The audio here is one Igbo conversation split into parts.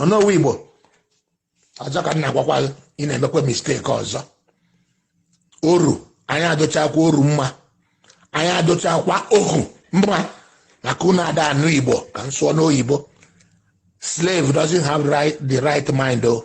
onowu igbo ọzọ ka m na-agwakwa gị ị na-emekwa mistake ọzọ oru anya adụchakwa oru mma anya adụchakwa ohu mma maka unu ada anụ igbo ka m sụọ n'oyibo slave doesn't have right, the right mind o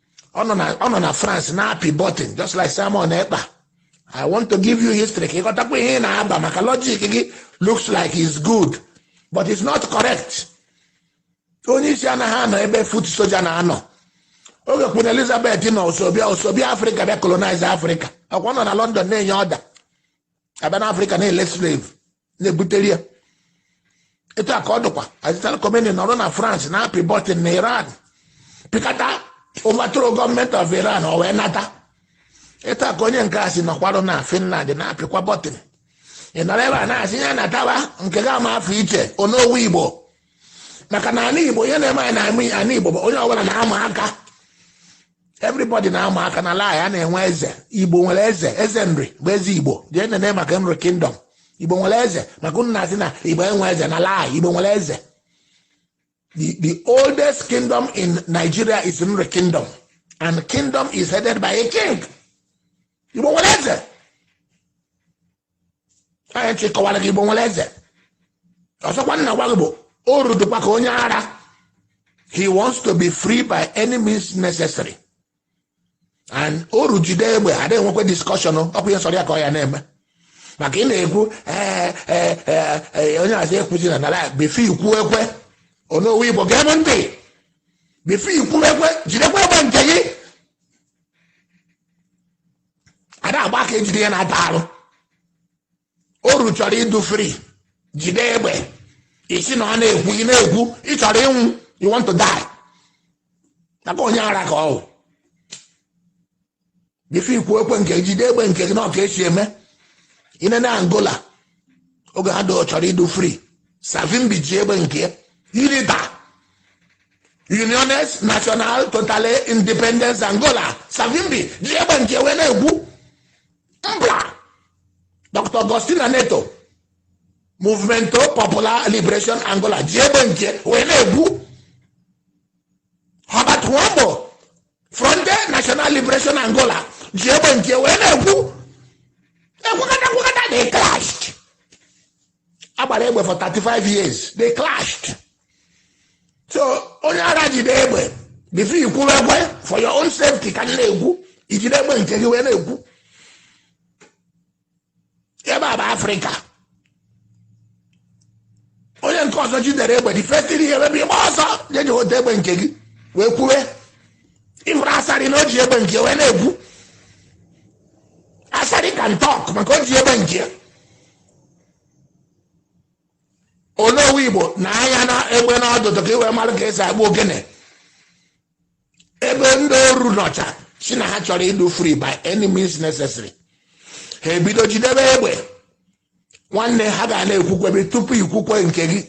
ọ nọ na- ọ nọ na france na-apị button just like simon ekpa i want to give you history ka ị ghọtakwa ihe ị na-aba maka logic gị looks like it's good but it's not correct onye isi anaghị anọ ebe foot soldier na-anọ oge queen elizabeth nọ o so bịa o so bịa afrịka bịa colonize afrịka ọkwa ọ nọ na london na-enye order a bịa na afrịka na-ele slave na-ebutere ya etu a ka ọ dịkwa ayatollah khomeini nọrọ na france na-apị button na iran pịkata overthrow government of iran o wee nata etu a ka onye nke a si nọkwarụ na finland na-apịkwa button ị nọrọ ebe a na-asị ya nataba nke ga ama afọ iche onowu igbo maka na ala igbo ihe na-eme anyị na ala igbo bụ onye ọbụla na-ama aka everybody na-ama aka na ala ya na-enwe eze igbo nwere eze eze nri bụ eze igbo jee nene maka nri kingdom igbo nwere eze maka unu na-asị na igbo enwe eze na ala igbo nwere eze the, the oldest kingdom in nigeria is nri kingdom and kingdom is headed by a king igbo nwere eze anyị ji kọwara gị igbo nwere eze ọzọkwa m na-agwa gị bụ oru dụkwa ka onye ara he wants to be free by any means necessary and oru jide egbe adịghị enwekwe discussion ọkwa ihe sọrọ ya ka ọ ya na-eme maka ị na-ekwu ee ee ee ee, onye azụ ekwuzi na nara before i kwuekwe onowu igbo gee m ntị before i kwuekwe jidekwa egbe nke gị ada agba aka ejide ihe na-ata arụ oru chọrọ ịdụ free jide egbe ị sị na ị na-ekwu ị na-ekwu ị chọrọ ịnwụ you want to die maka onye ara ka ọ bụ before i kwuekwe nke jide egbe nke gị na ọ ka e si eme i nene angola oge ha do chọrọ ịdụ free savimbi ji egbe nke ya unita uniones national totale independence angola savimbi ji egbe nke wee na-ekwu mpla dr agostinho neto movimento popular liberation angola ji egbe nke wee na-ekwu herbert wambo fronte national liberation angola ji egbe nke wee na-ekwu ekwukọta ekwukọta they clash agbara egbe for 35 years they clashed so onye ara jide egbe before you kwuwe egbe for your own safety ka m na-ekwu ijide egbe nke gị wee na-ekwu ebe a bụ africa onye nke ọzọ jidere egbe the first thing ị ya-eme bụ ịgba ọsọ jeje weta egbe nke gị wee kwuwe ị fụrụ asari na o ji egbe nke ya wee na-ekwu asari can talk maka o ji egbe nke onowu igbo nee anya egbe n'ọdụdụ ka ị wee mara ka esi akpụ ogene ebe ndị oru nọcha sị na ha chọrọ ịdụ free by any means necessary ha ebido jidebe egbe nwanne ha ga na-ekwukwebe tupu i kwukwe nke gị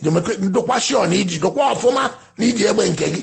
ndụkwa sure na i ji dụkwa ọfụma na i ji egbe nke gị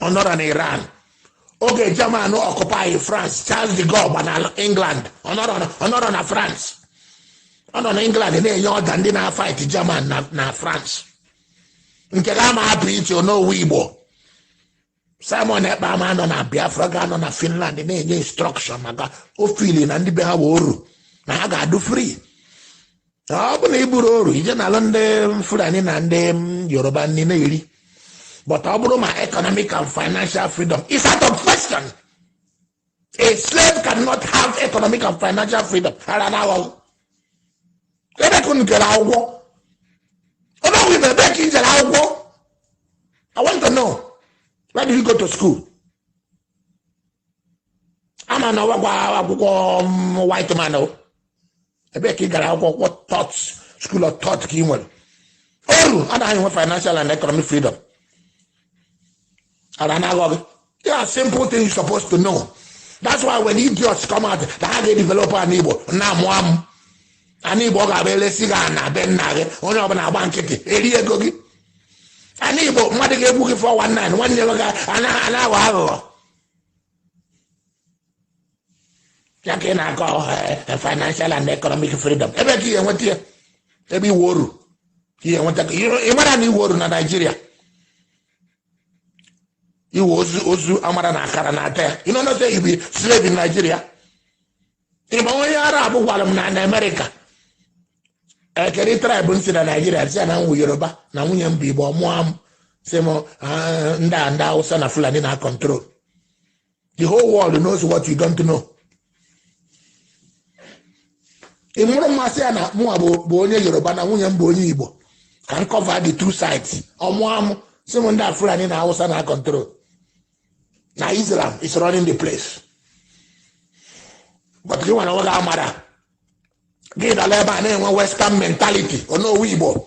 ọ nọrọ na iran oge german occupy france charles de gaulle gba na england ọ nọrọ na- ọ nọrọ na france ọ nọ na england na-enye order ndị na-afight german na, na france nke ga ama hapụ ichie onowu igbo simon ekpa ama nọ na biafra ga-anọ na finland na-enye instruction maka o feel na ndị be ha bụ oru na ha ga-adụ free ọ bụ na ị bụrụ oru ị je na-alụ ndị fulani na ndị yoruba ndị na-eri but ọ bụrụ ma economic and financial freedom is out of question a slave cannot have economic and financial freedom ara na aghọghọ ebee ka unu jere akwụkwọ ebe ọgwụ ibe ebee ka i jere akwụkwọ i want to know where did you go to school ama na ọ wụkwa akwụkwọ white man o ebee ka ị gara akwụkwọ what thought school of thought ka ị nwere oru anaghị enwe financial and economic freedom and anaghọ gị there are simple things you're supposed to know that's why when idiots come out na ha ga-edevelop ana igbo na-amụ amụ ana igbo ọ ga-abụ elesi gị ana be nna gị onye ọbụla agba nkịtị eri ego gị ana igbo mmadụ ga-egbu gị 419 nwanne gị ga- ana- ana-aghọ aghụghọ ya ka ị na-akọ eh, eh, financial and economic freedom ebee ka ị ya-enweta ya ebe ị wụ oru ị ya-enweta ị mara na ị wụ oru na nigeria ị wụ ozu ozu amara na akara na-ata ya you no know say you be slave in nigeria ị ma onye arab gwara m na america kedụ tribe m si na nigeria m sị ya na m wụ yoruba na nwunye m bụ igbo ọ mụọ amụ sị m ah, ndị a ndị awụsa na fulani na-acontrol the whole world knows what you don't know ị mụrụ mmasị ya na mụnwa bụ onye yoruba na nwunye m bụ onye igbo ka m cover the two sides ọ mụwa m sị mụ ndị a fulani na hausa na control na islam is running the place but gị nwere nwoge amara gị dala ebe a na-enwe western mentality onowu igbo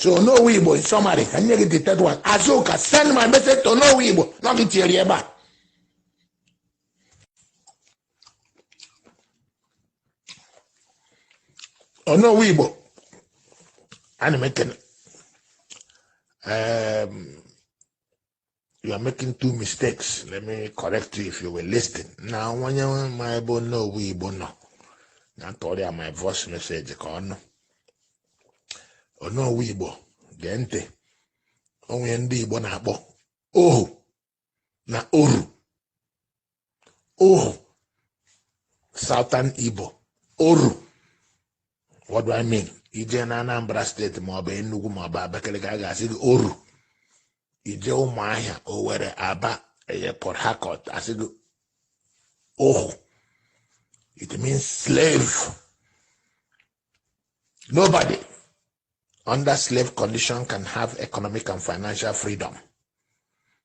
so onowu igbo in summary ka m nye gị the third one azuka send my message to onowu igbo nọ gị tinyere ebe a onowu igbo ana m ekene you are making two mistakes let me correct you if you were listening na o nwe onye ma ebe onowu igbo nọ nya tụọrọ ya my voice message ka onowu igbo gee ntị o nwe ihe ndị igbo na-akpọ ohu na oru ohu southern igbo oru what do i mean i jee na anambra state maọbụ enugu maọbụ abakaliki a ga-asị gị oru i jee ụmụahịa owere aba eye port harcourt a sị gị ohu it means slave nobody under slave condition can have economic and financial freedom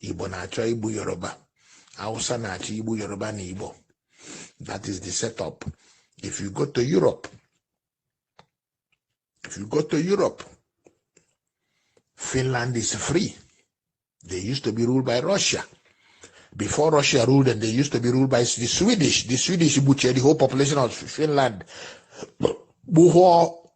igbo na-achọ igbu yoruba hausa na-achọ igbu yoruba na igbo that is the setup if you go to europe if you go to europe finland is free they used to be ruled by russia before russia ruled them they used to be ruled by the swedish the swedish butchered the whole population of finland before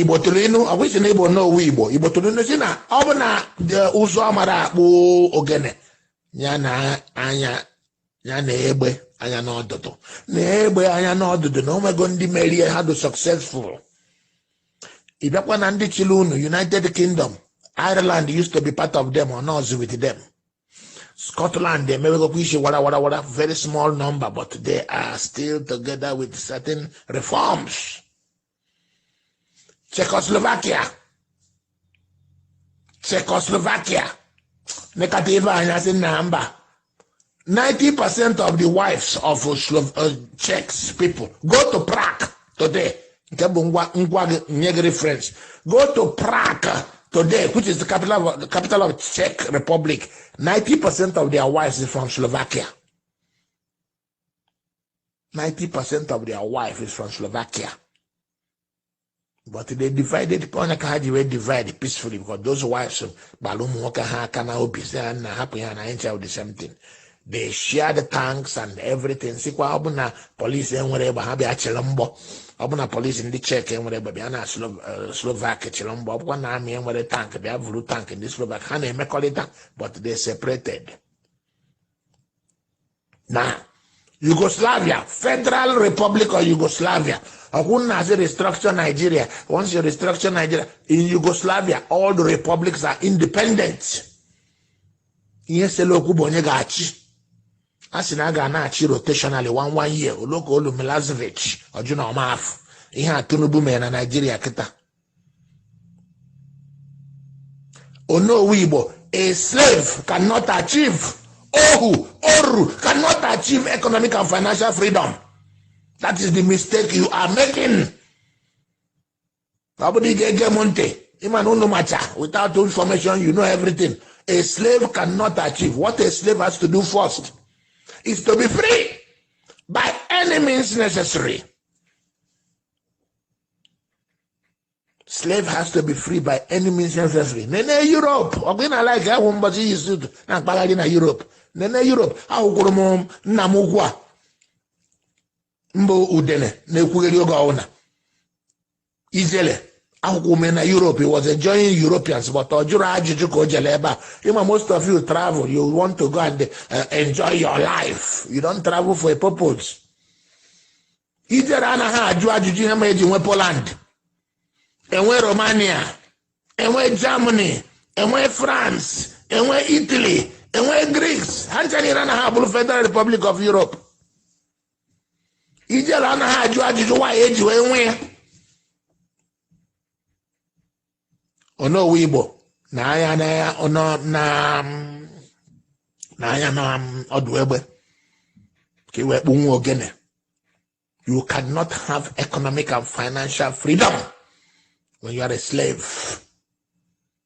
igbo tụrụ inu ọ bụ gị sị na ị bụ onowu igbo igbo tụrụ inu sị na ọ bụ na di ụzụ amara akpụ ogene ya nee anya ya nee egbe anya n'ọdụdụ nee egbe anya n'ọdụdụ na o nwego ndị mere ya ha dị successful ị bịakwa na ndị chịrị unu united kingdom ireland used to be part of them ọ nọrọzi with them Scotland emewegokwa isi wara wara wara very small number but they are still together with certain reforms Czechoslovakia Czechoslovakia nekata ife anya sị na mba 90% of the wives of Slo- uh, Czechs people go to Prague today nke bụ ngwa ngwa gị nye gị reference go to Prague today which is the capital of Czech Republic 90 percent of their wives is from Slovakia 90 percent of their wife is from Slovakia but they divided nya ka ha ji wee divide peacefully because those wives kpalụ ụmụ nwoke ha aka na obi sị ha na hapụ ya na anyị ncha wụ the same thing they share the tanks and everything sịkwa ọ bụ na police enwere egbe ha bịa chịrị mgbọ ọ bụ na police ndị czech enwere egbe bịa na Slo- eh, slovak chịrị mgbọ ọ bụkwa na army enwere tank bịa vuru tank ndị slovak ha na-emekọrịta but they separated na yugoslavia federal republic of yugoslavia ọ kwa unu na-asị restructure nigeria once you restructure nigeria in yugoslavia all the republics are independent ihe sele okwu bụ onye ga-achị a sị na a ga na-achị rotationally one one year o lu ka o lu milosevic ọ jụ na ọ ma-afụ ihe a tinubu mere na naijiria kịta onowu igbo a slave cannot achieve ohu oru cannot achieve economic and financial freedom that is the mistake you are making ọ bụrụ ị ga-ege m ntị ị ma na unu macha without information you know everything a slave cannot achieve what a slave has to do first is to be free by any means necessary slave has to be free by any means necessary nene europe ọ gị na-like ahụ m mbọchị i yi suit na mkpagharị na europe nene europe ahụkwuru m nna m ukwu a mba udene na-ekwugheri ọga unu ijele ahụkwuru m ya na europe he was enjoying europeans but ọ jụrụ ajụjụ ka o jele ebe a ị ma most of you travel you want to go and uh, enjoy your life you don't travel for a purpose ijele anaghị ajụ ajụjụ ihe mere e ji nwee poland e nwee romania e nwee germany e nwee france e nwee italy e nwee greece ha ncha niile anaghị abụrụ federal republic of europe ijele anaghị ajụ ajụjụ why e ji wee nwee ya onowu igbo nee anya na ọnọ na nee anya na ọdụ egbe ka i wee kpụnwu ogene you cannot have economic and financial freedom when you are a slave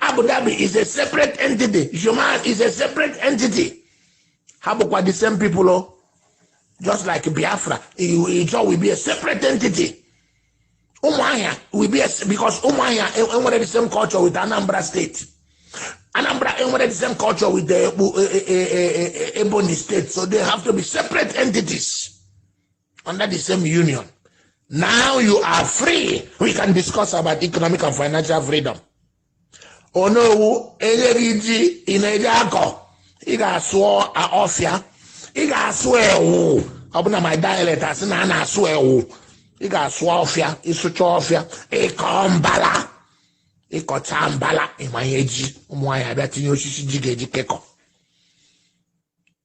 Abu Dhabi is a separate entity Juman is a separate entity ha bụkwa the same people o just like Biafra Ijaw will be a separate entity Umuahia will be a, because Umuahia enwere the same culture with Anambra State Anambra enwere the same culture with the Ebonyi State so they have to be separate entities under the same union. Now you are free. We can discuss about economic and financial freedom. Onowu e nye gị ji ị na-eje akọ ị ga-asụ ọfịa ị ga-asụ ewu ọ bụ na my dialect a sị na a na-asụ ewu ị ga-asụ ọfịa ị sụchaa ọfịa ị kọọ mbala ị kọchaa mbala ị manye ji ụmụ nwaanyị abịa tinye osisi ji ga-eji kekọ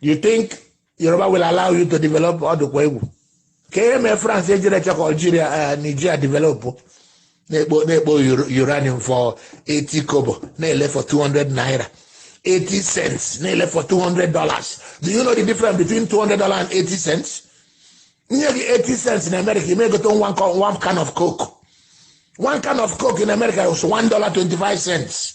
you think Yoruba will allow you to develop ọ dụkwa egwu kee ihe mee France ejirọ chọọ ka Algeria eh, Nigeria develop na-ekpo uranium for 80 kobo na-ele for 200 naira 80 cents na-ele for 200 dollars do you know the difference between 200 dollars and 80 cents e nye gị 80 cents na America ị ma-egote one can of coke one can of coke in America was 1 dollar 25 cents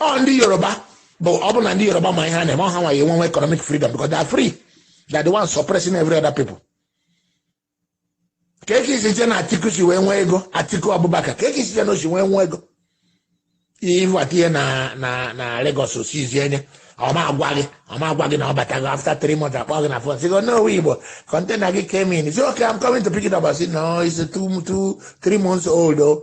ọ ndị yoruba bụ ọ bụ na ndị yoruba ma ihe ha na-eme ọ ha nwa ya-enwenwu economic freedom because they are free they are the ones suppressing every other people kee ka i si che na atiku si wee nwee ego atiku abubakar kee ka i si che na o si wee nwee ego ịbata ihe na na na Lagos o seize ya ọ ma agwa gị ọ ma agwa gị na ọ batago after three months akpọọ gị na phone sị gị Onowu Igbo container gị came in ị sị okay I'm coming to pick it up I said no it's two two three months old o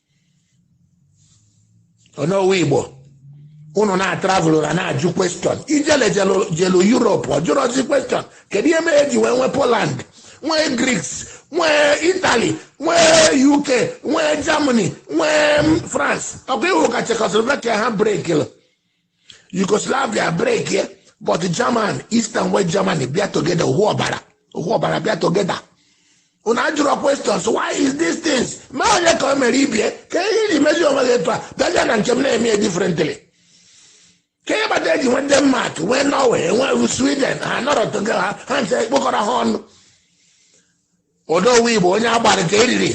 Onowu Igbo unu na-atravụlụ na na-ajụ question Ijele jelu Europe ọ jụrọzi question kedu ihe mere e ji wee nwee Poland nwee Greeks nwee Italy nwee UK nwee Germany nwee France ọkwa iwu ka Czechoslovakia ha brekil Yugoslavia break ya but German East and West Germany bịa together ohu ọbara ohu ọbara bịa together unu ajụrụ questions why is these things ma onye ka o mere ibie kee ihe i ji mezi onwe gị etu a bịaga na nke m na-eme ya differently kee ihe kpata e ji nwee Denmark nwee Norway nwee Sweden ha nọrọ together ha ha nche kpokọrọ ha ọnụ Onowu Igbo onye a gbara ka e riri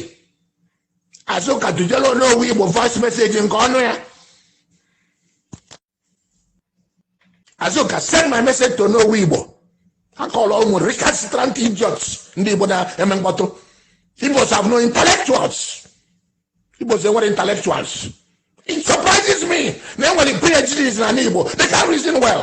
Azuka tujere Onowu Igbo voice message nke ọnụ ya Azuka send my message to Onowu Igbo akọrọ ụmụ recalcitrant idiots ndị Igbo na-eme mkpọtụ Igbos have no intellectuals Igbos enwerọ intellectuals it surprises me na e nwere PhDs na ana Igbo they can't reason well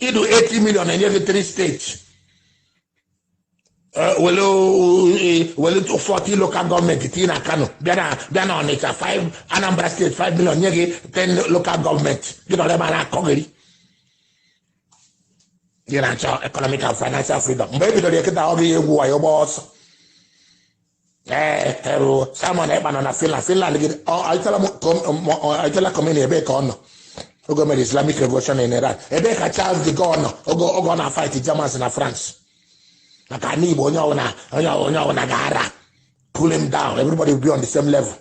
ị dụ 80 million e nye gị 3 states wele eh, wele 40 local government tii na kano bịa na bịa na ọnịcha 5 anambra state 5 million nye gị 10 local government gị nọrọ ebe a na-akọgheri gị na-achọ economic and financial freedom mgbe e bidoro ya kịta ọ gị egwu wayo gba ọsọ ee erụ Simon Ekpa nọ na Finland Finland gị ọ Ayatollah m ka ọ- m- ọ- Ayatollah Khomeini ebee ka ọ nọ oge o mere Islamic Revolution in Iran ebee ka Charles de Gaulle nọ oge oge ọ na-fight Germans na France maka ana Igbo onye ọbụla onye ọbụla- onye ọbụla ga-ara pull him down everybody will be on the same level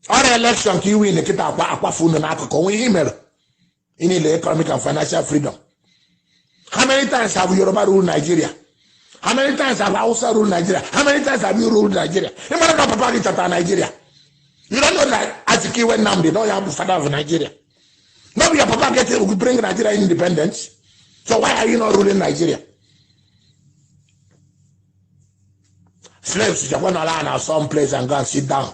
o rue election ka i win kịta a kwafu unu n'akụkụ o nwe ihe i mere ị niile economic and financial freedom how many times have yoruba rule nigeria how many times have hausa rule nigeria how many times have you rule nigeria ị mara na papa gị chọtara nigeria you don't know that azikiwe nnamdi na onye bụ father of nigeria no be your papa get you bring nigeria independence so why are you not ruling nigeria slaves jekwa nọla na some place and go and sit down